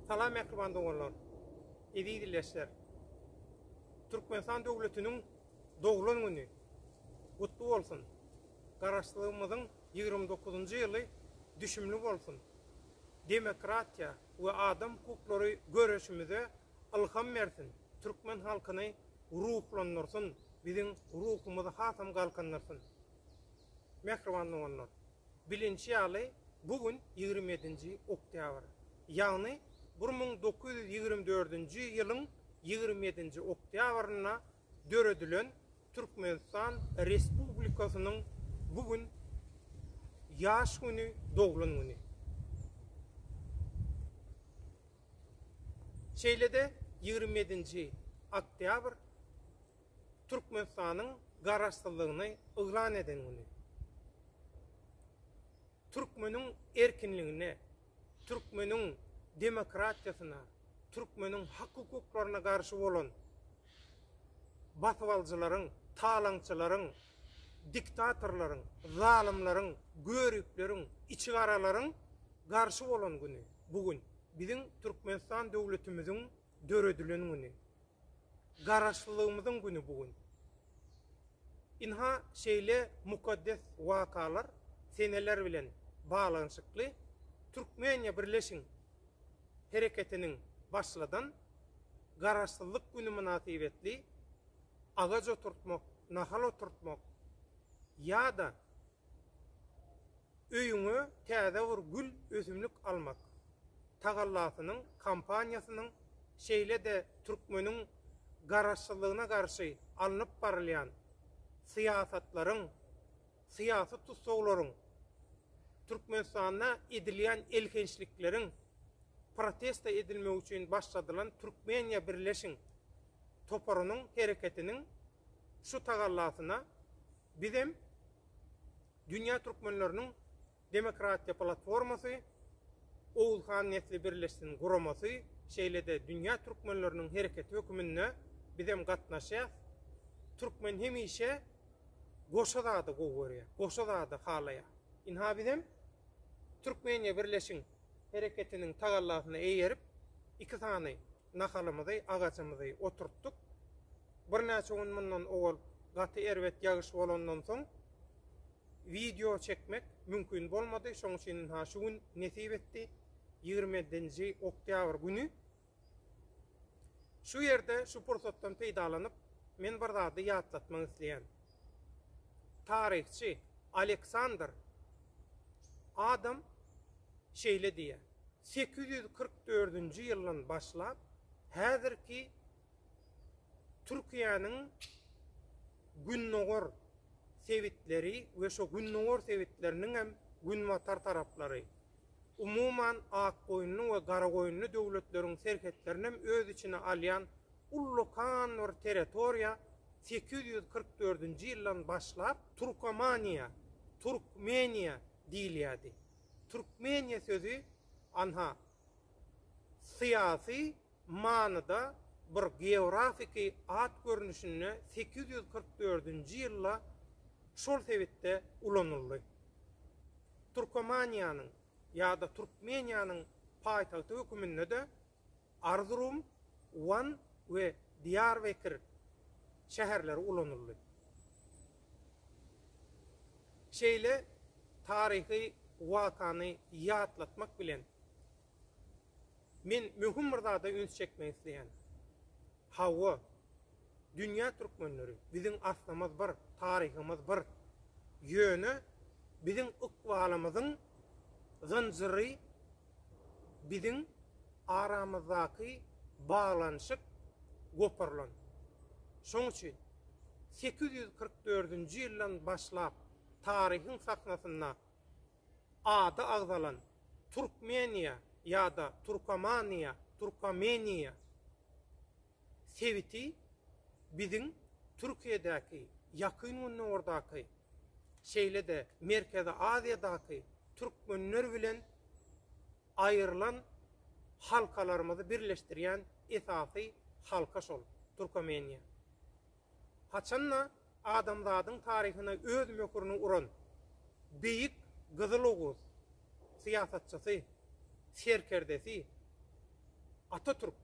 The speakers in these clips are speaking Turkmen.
Salam mähriban doganlar, eziz illeşler. Türkmenistan döwletiniň doglan güni gutly bolsun. Garaşsyzlygymyzyň 29-njy ýyly düşümli bolsun. Demokratiýa we adam hukuklary göreşimize ylham bersin, türkmen halkyny ruhlandyrsyn, biziň ruhumyzy hasam galkyndyrsyn. Mähriban doganlar! Bilinişi ýaly, bu gün ýigrimi ýedinji oktýabr. Ýagny, bir müň dokuz ýüz ýigrimi dördünji ýylyň ýigrimi ýedinji oktýabrynda döredilen Türkmenistan Respublikasynyň bu gün ýaş güni, doglan güni. Şeýle-de ýigrimi ýedinji oktýabr Türkmenistanyň garaşsyzlygyny yglan eden güni. Türkmeniň erkinligine, türkmeniň demokratiýasyna, türkmeniň hak-hukuklaryna garşy bolan basybalyjylaryň, talaňçylaryň, diktatorlaryň, zalymlaryň, göripleriň, içigaralaryň garşy bolan güni bu gün. Biziň Türkmenistan döwletimiziň. döredilen güni, Garaşlylygymyzyň güni bu gün. Ynha, şeýle mukaddes wakalar seneler bilen baglanyşykly Türkmeniýa birleşiň! hereketiniň başladan Garaşsyzlyk güni mynasybetli agaç oturtmak, nahal oturtmak ýa-da Öýüňe täze bir gül ösümlik almak tagallasynyň kampaniýasynyň, şeýle-de türkmeniň garaşsyzlygyna garşy alnyp barylýan syýasatlaryň, syýasy tussaglaryň, Türkmenistanda edilýän elhençlikleriň protesta edilmegi üçin başladylan Türkmeniýa birleşiň! toparynyň hereketiniň şu tagallasyna bizem Dünýä Türkmenleriniň Demokratiýa Platformasy, Oguzhan Nesli Birleşsin guramasy, şeýle-de Dünýä Türkmenleriniň Hereketi höküminde bizem gatnaşýas. Türkmen hemişe goşa zady gowy görýär, goşa zady halaýar. Ynha bizem Türkmeniýa Birleşiň Hereketiniň tagallasyna eýerip, iki sany Nahalymyzy, agajymyzy oturtdyk. Birnäçe gün mundan owal gaty erbet ýagyş bolandan soň wideo çekmek mümkin bolmady. Şoň üçin ynha şu gün nesip etdi. Ýigrimi ýedinji oktýabr güni. Şu ýerde şu pursatdan peýdalanyp, men bir zady ýatlatmak isleýän. Taryhçy Aleksandr Adam şeýle diýýär. Sekiz ýüz kyrk dördünji ýyldan başlap häzirki Türkiýäniň gündogar sebitleri we şo gündogar sebitleriniň hem günbatar taraplary, umuman Akgoýunly we Garagoýunly döwletleriň serhetlerini hem öz içine alýan ullakan bir territoriýa sekiz ýüz kyrk dördünji ýyldan başlap Turkomaniýa, Türkmeniýa diýilýärdi. Türkmeniýe sözi anha syýasy manyda bir geografiki at görnüşinde sekiz ýüz kyrk dördünji ýylda şol sebitde ulanyldy. Türkomaniýanyň ýa-da Türkmeniýanyň paýtagty höküminde-de Arzurum, Wan we Diýarbekir şäherleri ulanyldy. Şeýle taryhy wakany ýatlatmak bilen, men möhüm bir zada üns çekmek isleýän. Hawa, dünýä türkmenleri, biziň aslymyz bir, taryhymyz bir. Ýöne biziň ykbalymyzyň zynjyry biziň aramyzdaky baglanyşyk goparylan. Şoň üçin sekiz ýüz kyrk dördünji ýyldan başlap taryhyň sahnasynda ady agzalan Türkmeniýa ýa-da Türkomaniýa, Türkomeniýa, sebiti biziň Türkiýedäki, Ýakyn Gündogardaky, şeýle-de Merkezi Aziýadaky türkmenler bilen aýrylan halkalarymyzy birleşdirýän esasy halka şol, Türkomeniýa. Haçan-da, adamzadyň taryhyna öz möhürini uran beýik Gyzyl Oguz syýasatçysy, serkerdesi Atatürk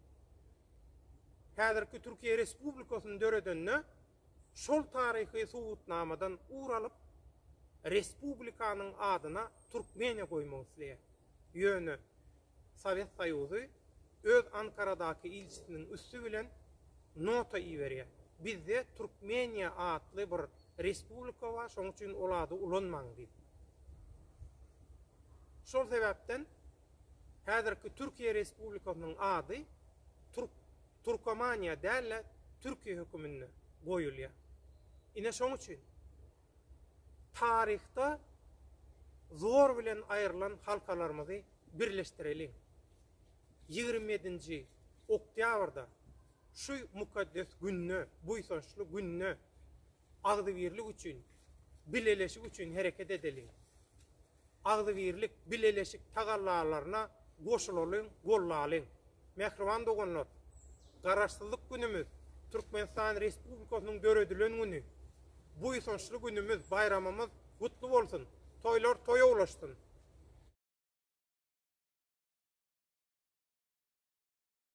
häzirki Türkiýe Respublikasyny döredende şol taryhy subutnamadan ugur alyp, respublikanyň adyna Türkmeniýa goýmak isleýär. Ýöne Sowet Soýuzy öz Ankaradaky ilçisiniň üsti bilen nota iberýär, Bizde Türkmeniýa atly bir respublika bar, şonuň üçin ol ady ulanmaň diýip. Şol sebäpden häzirki Türkiýe Respublikasynyň ady Türk Türkomaniýa däl-de Türkiýe höküminde goýulýar. Ine şoň üçin Taryhda zor bilen aýrylan halkalarymyzy birleşdireliň. Ýigrimi ýedinji oktýabrda şu mukaddes günde, buýsançly günde agzybirlik üçin, bileleşik üçin hereket edeliň. Agzybirlik, bileleşik tagallalaryna goşulalyň, gollalyň! Mähriban doganlar! Garaşsyzlyk günümiz, Türkmenistan Respublikasynyň döredilen güni, buýsançly günümiz, baýramymyz gutly bolsun, toýlar toýa ulaşsyn!